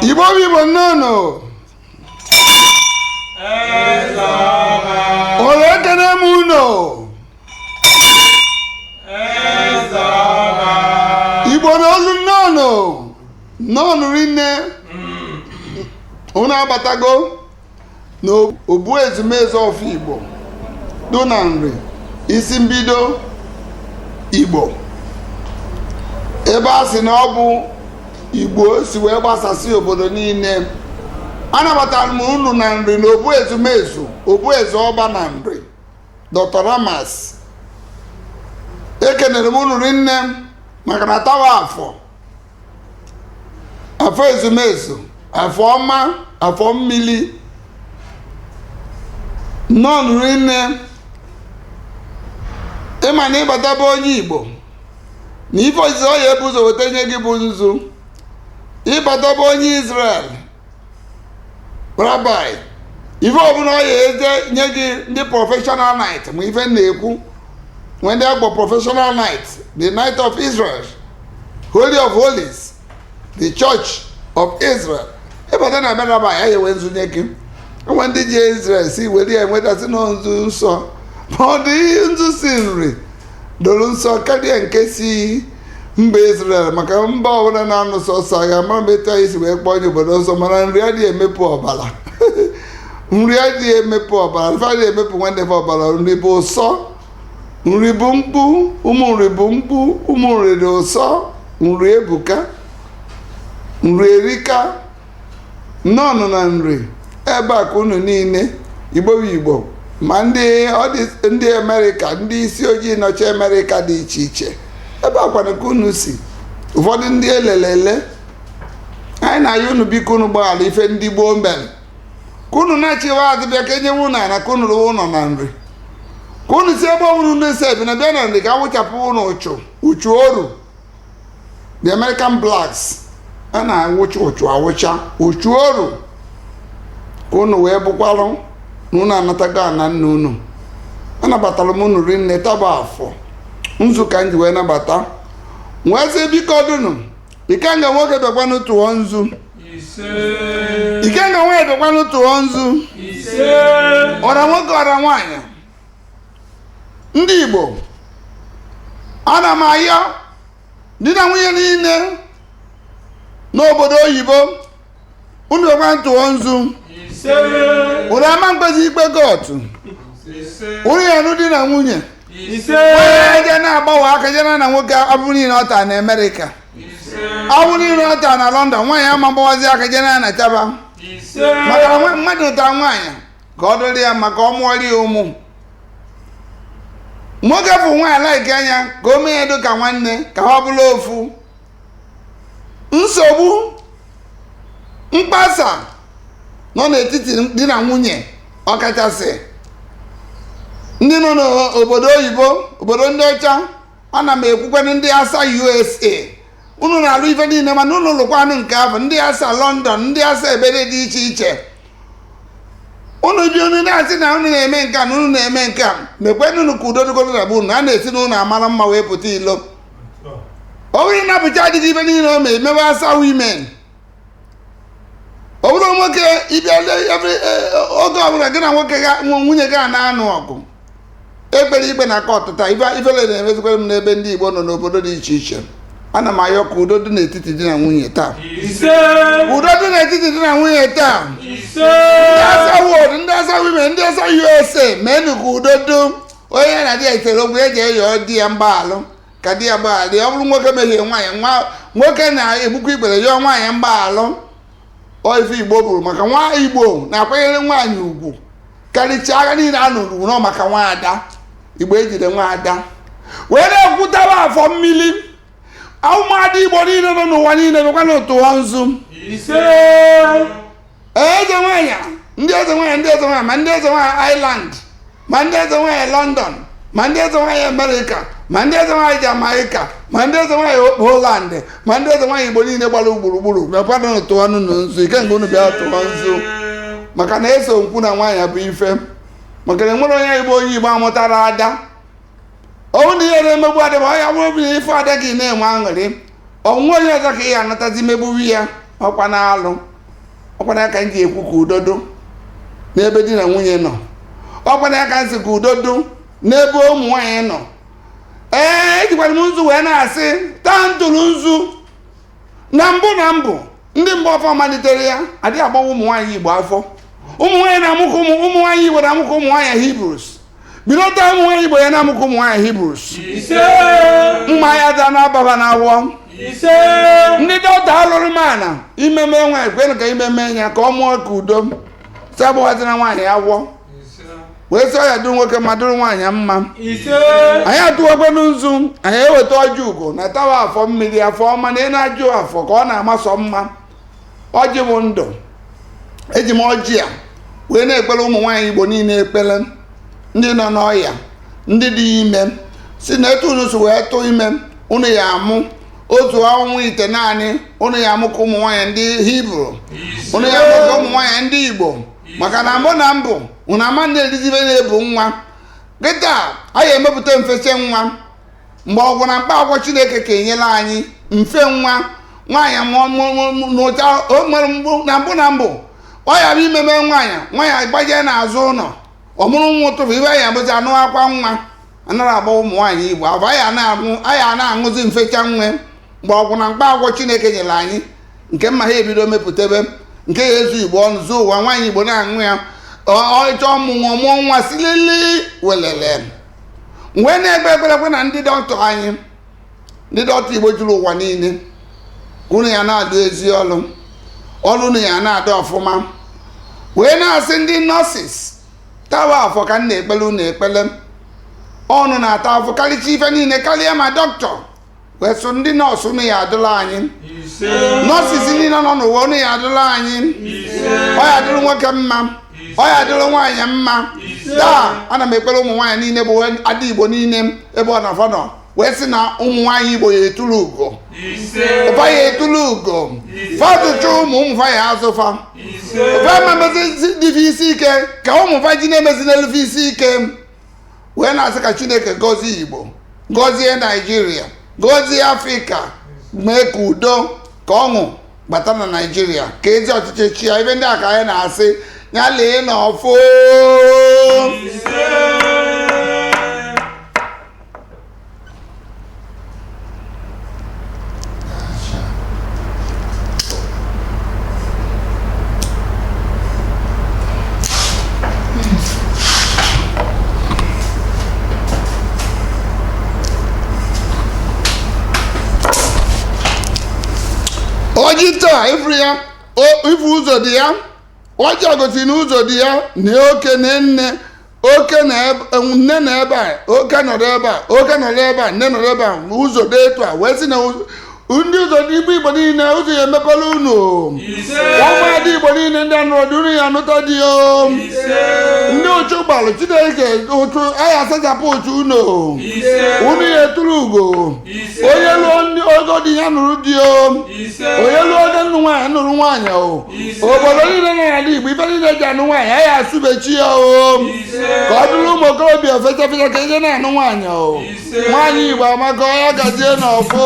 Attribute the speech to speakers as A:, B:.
A: igbo bụ igbo nnọọ ụlọ ekene m unu igbo na olu nnọọ nnọọnụ rinne unu abatago na obu ezumezu ọfọ igbo dụ na nri isi mbido igbo ebe a sị na ọ bụ igbo si wee gbasasị obodo niile anabatara m unu na nri na obu ezumezu obu eze ọba na nri dr ramas ekenere m unu rinne maka na taa wụ afọ afọ ezumezu afọ ọma afọ mmili nnọọnụ rinne ị ma na ị bata be onye igbo na ife izizi ọ ya ebu ụzọ weta nye gị bụ nzu ị bata be onye Israel rabbi ife ọbụla ọ ya eje nye gị ndị professional knight ma ife na-ekwu when they go professional knight the knight of israel holy of holies the church of israel ị bata na be rabbi a ya ewe nzu nye gị e nwe ndị je israel si were ya enwetasị na nzu nsọ but the nzu si nri doro nsọ karịa nke si mba Israel maka mba ọbụla na-anụ sọsọ agha amarọ m etu anyị si wee kpọọ ya obodo nsọ mana nri adịghị emepụ ọbara nri adịghị emepụ ọbara fa adịghị emepụ nwanne fa ọbara nri bụ nsọ nri bụ mkpu ụmụ nri bụ mkpu ụmụ nri dị nsọ nri ebuka nri erika nnọọnụ na nri ebe a ka unu niile igbo bụ igbo ma ndị ọ dị- ndị amerịka ndị isi ojii nọcha amerịka dị iche iche ebe a kwanụ ka unu si ụfọdụ ndị e lele ele anyị na-ayọ unu biko unu gbaghara ife ndị gboo mere ka unu nachịwa azụ bịa ka e nyewe unu ana ka unu rụwa ụlọ na nri ka unu si ebe ọbụla unu si ebi na bịa na nri ka a wụchapụ unu uchu uchu oru the american blacks a na-awụcha uchu a wụcha uchu oru ka unu wee bụkwalụ na unu anatago ana nna unu anabatara m unu rinne taa bụ afọ nzu ka m ji wee nabata wee sị biko dunu ikenga nwoke bịakwanụ tụọ nzu ikenga nwoke bịakwanụ tụọ nzu ise ọra nwoke ọra nwaanyị ndị igbo ana m ayọ di na nwunye niile n'obodo oyibo unu bịakwanụ tụọ nzu ise unu ama mkpezi ikpe kọọtụ ise unu ya-anụ di na nwunye ise onye je na-agbawa aka je naa na nwoke abụ niile ọ taa na amerịka ise abụ niile ọ taa na london nwaanyị ama mgbawazi aka je naa na chaba ise maka na nwa- mmadụ nụta nwaanyị ka ọ dịrị ya maka ọ mụọrị ya ụmụ nwoke fụ nwaanyị laịkịa nya ka o mee ya dị ka nwanne ka ha bụrụ ofu nsogbu mkpasa nọ n'etiti di na nwunye ọkachasị ndị nọ n'obodo oyibo obodo ndị ọcha ana m ekwukwanụ ndị asa usa unu na-alụ ife niile mana unu lụkwanụ nke afụ ndị asa london ndị asa ebe dị iche iche unu ji unu na-asị na unu na-eme nke a na unu na-eme nke a mekwenụnụ ka udo dịgodu na be unu a na-esi n'ụnọ amara mma wee pụta ilo ọ bụrụ na bụcha adịghị ife niile o mee mewe asa women ọ bụrụ nwoke ịbịa le- every- eh, oge ọbụla gị na nwoke ga- nwa- nwunye gị a na-anụ ọgụ ekpere ikpe na kọtụ taa ife ifele na-emezikwa m n'ebe ndị igbo nọ n'obodo dị iche iche ana m ayọ ka udo dị n'etiti di na nwunye taa ise udo dị n'etiti di na nwunye taa ise ndị asa world ndị asa women ndị asa usa meenụ ka udo dị onye na di ya sere okwu o jee yọọ di ya mgbaalụ ka di ya gbaghalụ ọ bụrụ nwoke mehie nwaanyị nwa nwoke na-egbukwa ikpere yọọ nwaanyị mgbaalụ ọ ife igbo bụrụ maka nwa igbo na-akwanyere nwaanyị ugwu karịchaa agha niile a nụrụ nọ maka nwaada igbo ejide nwaada wee na-ekwutaba afọ mmiri ụmụada igbo niile nọ n'ụwa niile bịakwanụ tụọ nzu ise eze nwaanyị ndị eze nwaanyị ndị eze nwaanyị ma ndị eze nwaanyị ireland ma ndị eze nwaanyị london ma ndị eze nwaanyị amerịka ma ndị eze nwaanyị jamaika ma ndị eze nwaanyị holland ma ndị eze nwaanyị igbo niile gbara gburugburu mekwanụ tụọnụ nzu ise nke unu bịa tụọ nzu maka na eziokwu na nwaanyị bụ ife maka na enwere onye igbo onye igbo amụtara ada ọ nụ na ihe na-emegbu ada ya ọ ya bụrụ bụ na ife ada gị na-enwe aṅụrị ọ nwa onye ọzọ ka ị ya anatazi megbuwe ya ọkwanụ alụ ọkwa nya ka m ji ekwu ka udo dụ n'ebe di na nwunye nọ ọkwa nya ka m sị ka udo dụ n'ebe ụmụ nwaanyị nọ ee ejikwanụ m nzu wee na-asị taa m tụrụ nzu na mbụ na mbụ ndị mgbe ọfọ malitere ya adịghị agbawa ụmụ nwaanyị igbo afọ ụmụ nwaanyị na-amụ ka ụmụ ụmụ nwaanyị igbo na-amụ ka ụmụ nwaanyị hebrews bido taa ụmụ nwaanyị igbo ya na-amụ ka ụmụ nwaanyị hebrews ise mma ya da na-aba ha n'ahụ ise ndị dọkịta alụrụ mana ime mee nwaanyị kwenụ ka ime mee ya ka ọ mụọ ka udo sị agbawazina nwaanyị afọ wee sị ọ ya adụrụ nwoke mma dụrụ nwaanyị mma anyị atụwakwanụ nzu anyị eweta ọjị ugo na taa wụ afọ mmiri afọ ọma na ị na-ajụ afọ ka ọ na-amasọ mma ọjị bụ ndụ eji m ọjị a wee na-ekpele ụmụ nwaanyị igbo niine ekpele ndị nọ n'ọya ndị dị ime sị na etu unu si wee tụ ime unu ya amụ otu ọnwa itenaanị unu ya amụ ka ụmụ nwaanyị ndị hibru unu ya amụ ka ụmụ nwaanyị ndị igbo maka na mbụ na mbụ ụna ama na-erizibe na-ebu nwa kịta anyị emepụta mfeche nwa mgbọrọgwụ na mkpa akwụkwọ chineke kenyelu anyị mfe nwa nwaanyị mụọ mụọ- mụọ- mụọ- n'ụcha o nwere mgbu- na mbụ na mbụ ọ yara ime mee nwaanyị nwaanyị gbajee n'azụ ụnọ ọ mụrụ nwa ụtụtụ ibe anyị abụzi anụ akwa nwa anara agba ụmụ nwaanyị igbo afọ anyị ana-aṅụ anyị ana-aṅụzi mfecha nwa mgbọrọgwụ na mkpa akwụkwọ chineke nyere anyị nke mma ha ebido mepụtebe nke ya ezu igbo ọnụ zuo ụwa nwaanyị igbo na-aṅụ ya ọ chọọ ọmụmụ mụọ nwa silili welele m wee na-ekpe ekpere kwe na ndị dọkịta anyị ndị dọkịta igbo juru ụwa niile ka unu ya na-alụ ezi ọlụ ọlụ unu ya na-adụ ọfụma wee na-asị ndị nọọsis taa wụ afọ ka m na-ekpele unu ekpele ọ unu na-ata afụfụ karịcha ife niile karịa ma dọkịta wee sị ndị nọọsụ unu ya adịlị anyị nọọsis niile nọ n'ụwa unu ya adịlị anyị ọ ya adịrị nwoke mma ọ ya adịrị nwaanyị mma taa ana m ekpere ụmụ nwaanyị niile bụ ada igbo niile ebe ọbụna fa nọ wee sị na ụmụ nwaanyị igbo ya etulu ugo ụfa ya etulu ugo fa zụchaa ụmụ ụmụ fa ya azụ fa ụfa ama emezi ụdị ife isi ike ka ụmụ fa ji na-emezi na-eli ife isi ike wee na-asị ka chineke gọzie igbo gọzie naijiria gọzie afrịka mee ka udo ka ọṅụ bata na naijiria ka ezi ọchịchị chịa ife ndị a ka anyị na-asị ya lee n'ọfọ ọjị taa ị fụrụ ya o- ị fụ ụzọ dị ya ọjị a gosiri na ụzọ dị ya na oke na nne oke na ebe- nne na ebe a oke nọrọ ebe a oke nọrọ ebe a nne nọrọ ebe a ụzọ dị etu a wee sị na ụzọ- ndị ụzọ dị igbo igbo niile ụzọ ya emepelu unu ise ụmụada igbo niile ndị anụrọ di unu ya anụta di o ise ndị ụchụ gbalụ chineke ụchụ ya asachapụ ụchụ unu ise unu ya etulu ugo onye luo ndị ogo di ya nụrụ di o onye luo oge ịnụ nwaanyị nụrụ nwaanyị o obodo niile nọ n'ala igbo ife niile e ji anụ nwaanyị anyị asụbechi ya o ka ọ dịrị ụmụ okorobịa fecha fecha ka e je na-anụ nwaanyị o nwaanyị igbo amaka o ya gazie na ọfụ